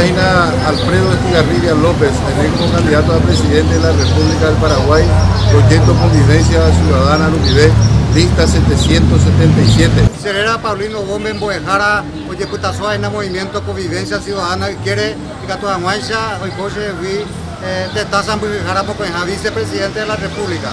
Señorina Alfredo Estigarribia López, electo candidato a presidente de la República del Paraguay, proyecto Convivencia Ciudadana Lumivé, lista 777. Señora Paulino Gómez Boejara, Oyeputazo en el movimiento Convivencia Ciudadana y quiere que a Guancha, hoy coche, de Tazan Boejara, vicepresidente de la República.